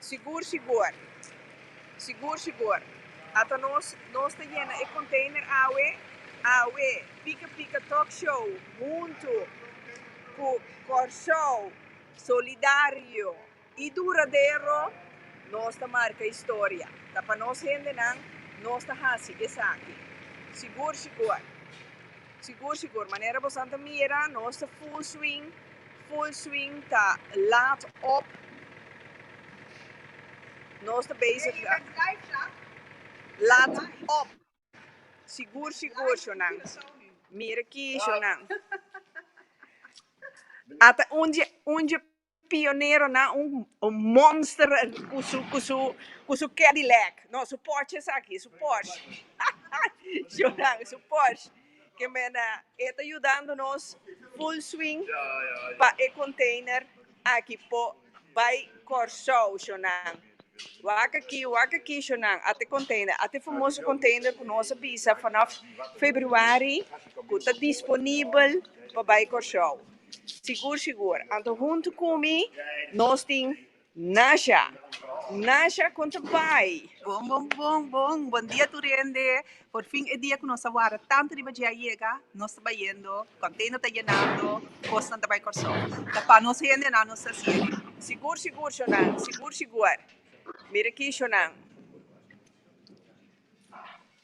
Sigur, sigur. Sigur, sigur. Ata nos, nos ta yena e container awe, awe, Pika Pika Talk Show, huntu cu Corsou Solidario y Duradero, nos ta marca historia. Ta pa nos hendenan, nos ta haci esaki. Sigur, sigur. Sigur, sigur. Manera bosan ta mira, nos ta full swing. Full swing ta laat op. Nos ta bezig laat op. Sigur sigur shownan. Mira aki shownan. Ata un dje un dje pioneronan un monster cu su cu su cu su cadilac no su porsche esaki su porsche shownan su porsche. Ke mene e ta yudando nos full swing pa e container aki por bai Kòrsou, shonang. Waka aki, waka aki, shonang, at e container, at e famoso container ku nos a bisa fanof februari ku ta disponibel pa bai Kòrsou. Sigur, sigur. Anto huntu ku mi nos tin. Nasha Nasha kon ta bai. Bon bon bon bon bon dia tur hende por fin e dia ku nos a wara tantu riba dje a yega nos ta bayendo kontendo ta yenando kosnan ta bai Kòrsou ta pa nos hende nan nos ta sigue. Sigur sigur shonan sigur sigur mira aki shonan.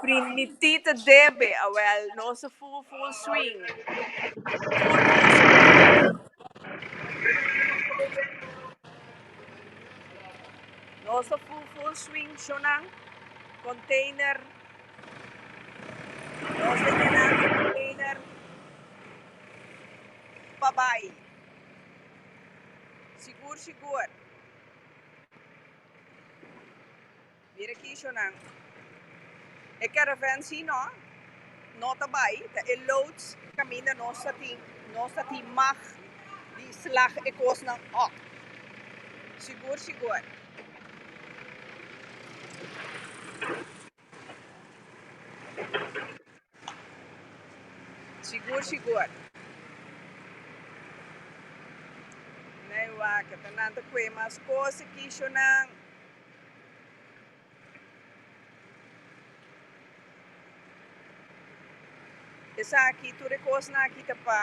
Primiti ta debe awel nos a full full swing. Nos a full full swing shonan container nos a yena e container pa bay sigur sigur. Mira ki ishonan. E caravan si no no ta bai ta e loads caminda nos ta tin nos ta tin mag di slag e cosnan op. Sigur sigur. Sigur, sigur. Ney wak ta nan ta kue mas cos e kisho nan. Esaki, tur e kosnan aki ta pa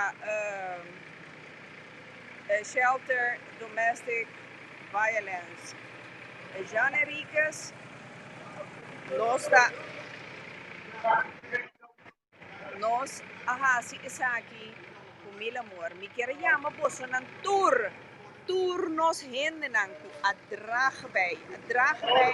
shelter domestic violence. E Jan Henriquez nos ta nos a hasi esaki ku mil amor. Mi kier yama bosonan tur, tur nos hendenan ku a drag bei, a drag bei.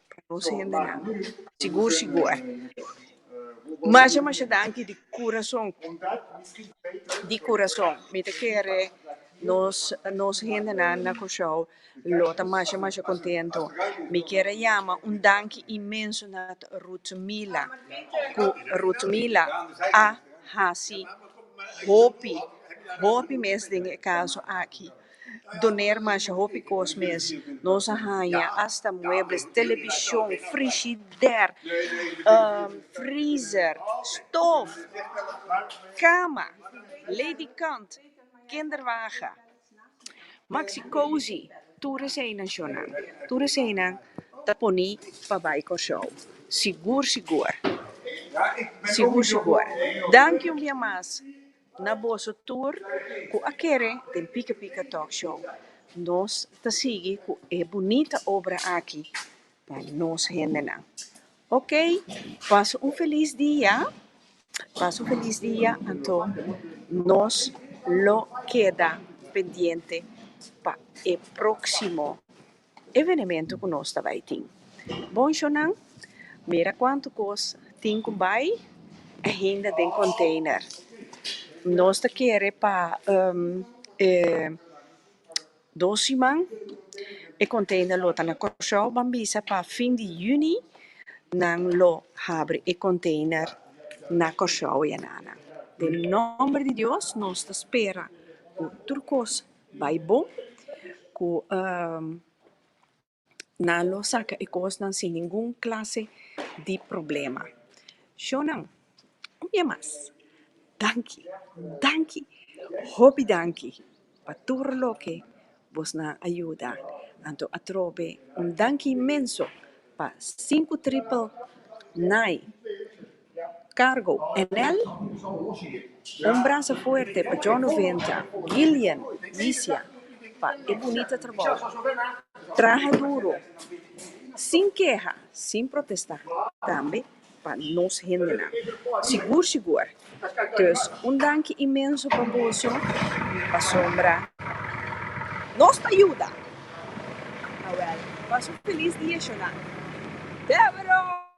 conoce hendenan sigur sigur ai masha masha danki di curason di curason mi ta kere nos nos hendenan na Kòrsou lo ta masha masha contento mi kere yama un danki inmenso na Ruth Milla cu Ruth Milla a hasi hopi hopi mes den e caso aki. doner masha hopi kos mes. Nos a haña asta muebles, televishon, frishider, freezer, stof, kama, ledikant, kinderwagen, maxi-cozy. Tur eseinan shornan, tur eseinan ta poni pa bai Kòrsou. Sigur sigur, sigur sigur. Danki un bia mas. Na boso tur cu a kere den Pika Pika Talk Show, nos ta sigui cu e bunita obra aki pa nos hendenan. Ok, pasa un feliz dia, pasa un feliz dia anto nos lo keda pendiente pa e proximo. Evenemento cu nos ta bay tin. Bonshonan, mira cuanto cos tin cu bay ainda den container. Nos ta kere pa e dos siman e container lo ta na Curaçao. Ban bisa pa fin di juni nan lo habri e container na Curaçao ya nana. Den nomber di Dios nos ta spera cu tur cos. bai bon cu nan lo saca e cosnan sin ningun clase di problema. Shownan, un bia mas, danki, danki, hopi danki pa tur loke bos na a yuda. Anto atrobe un danki inmenso pa Sinku Tripel Nai. Cargo, Enel, Un brasa fuerte pa John Ovencha, Gillian, Misia, pa e bunita trabou. Traha duro, sin keha, sin protesta, tambe pa nos hendenan. Sigur sigur. Dus un danki inmenso pa boso pasobra nos ta yuda. Awèl, pasa un felis dia, Shona. Debora!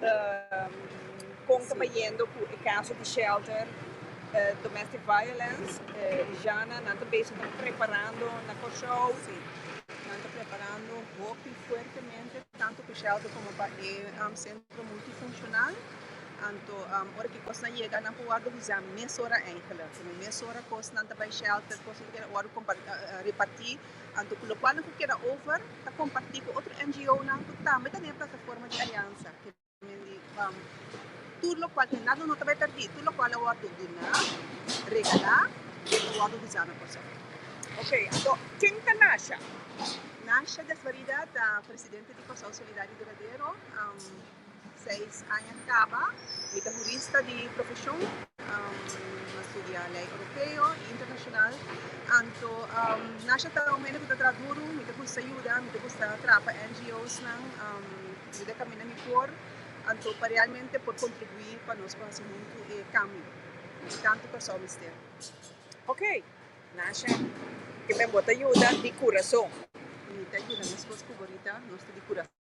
Ta con ta bayendo cu e caso di shelter domestic violence Jana nan ta bezig ta preparando na Curaçao y nan ta preparando hopi fuertemente tanto pa shelter como pa e centro multifuncional anto ora ki cos nan yega nan por worde bisa mesora eindelijk como mesora cos nan ta bay shelter cos nan ta keda worde reparti Anto ku lokualnan ku keda over ta kompartí ku otro NGOnan ku tambe ta den e plataforma di aliansa, ke men di Bam tur lokual ten nada no ta bai pèrdí, tur lokual a wòrdu duná, regalá i a wòrdu usá na Kòrsou. Ok, anto ken ta Nasha? Nasha Desvarida ta presidente di Kòrsou Solidario Duradero. Seis aña kaba. Mi ta hurista di profeshon. Mi a studia lei oropeo i internashonal. Anto Nasha ta un hende ku ta traha duru. Mi ta gusta yuda. Mi ta gusta traha pa NGOsnan, yuda e kaminda mi por. Anto pa realmente por kontribuí pa nos por hasi huntu e kambio ku tantu Kòrsou mester. Ok, Nasha, kiben bo ta yuda di kurason? Mi ta yuda mi esposo ku bo Rita. Nos ta di kurason.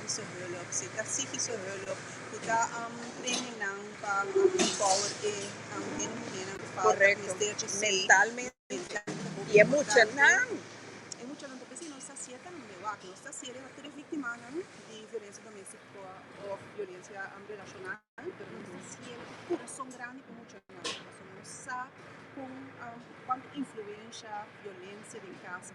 di su hulp, si ta sigui su hulp y ta prende nan pa empower e hende, muhernan cu falta, cu mester dj'esey mentalmente. E muchanan ta pens'ey, nos ta haci'e tambe, wak, nos ta haci'e riba tur e victimanan di violencia domestico of violencia relacional, pero nos ta haci'e cu corazon grandi pa e muchanan, pasobra nos sa con cuanto influencia violencia den casa.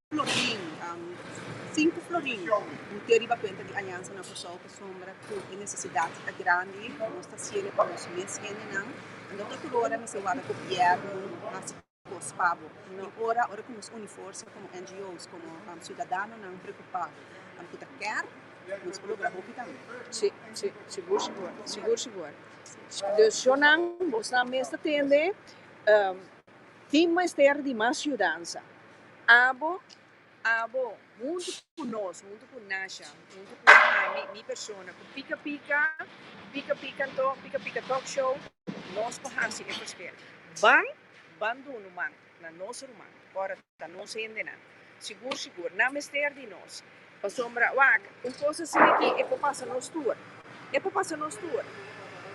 Florin, sinku florin bo tin riba kuenta di Aliansa na Kòrsou pasobra ku e nesesidat ta grandi, nos ta hasiendo pa nos mes hendenan, anto tur tur ora mester wak gobièrnu hasi kos pa bo, no ora ora ku nos uni forsa komo NGOs, komo siudadanonan preokupá ku ta kèr, nos por logra hopi tambe. Abo, abo, huntu ku nos, huntu ku Nasha, huntu ku ami, mi persona, ku Pika Pika, Pika Pika an tok, Pika Pika Talk Show, nos por hasi e prosper. Ban, ban dunu man na nos ruman, ora ta nos hendenan. Sigur, sigur, nan mester di nos. Pasobra, wak, un kos asi aki e por pasa nos tur, e por pasa nos tur.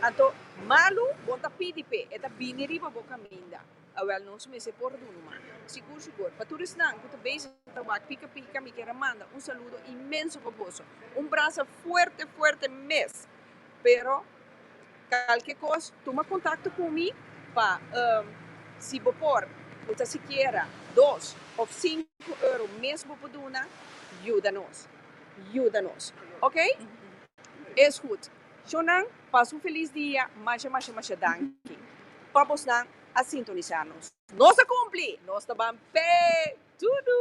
Anto, malu, bo ta pidi p'e, e ta bini riba bo kaminda. Awel nos mester por dunu man. Sigur sigur. Pa tur esnan cu ta bezig ta wak pica pica mi quier a manda un saludo inmenso pa boso. Un brasa fuerte fuerte mes. Pero calke cos tuma contacto cu mi pa si bo por bo ta sikiera dos of cinco euro mes bo por duna yuda nos yuda nos ok. Es goed. Shownan, pas un felis dia. Masha masha masha danki pa bosnan a sintonisá nos. Nos a kumpli! Nos ta ban p'e tudu!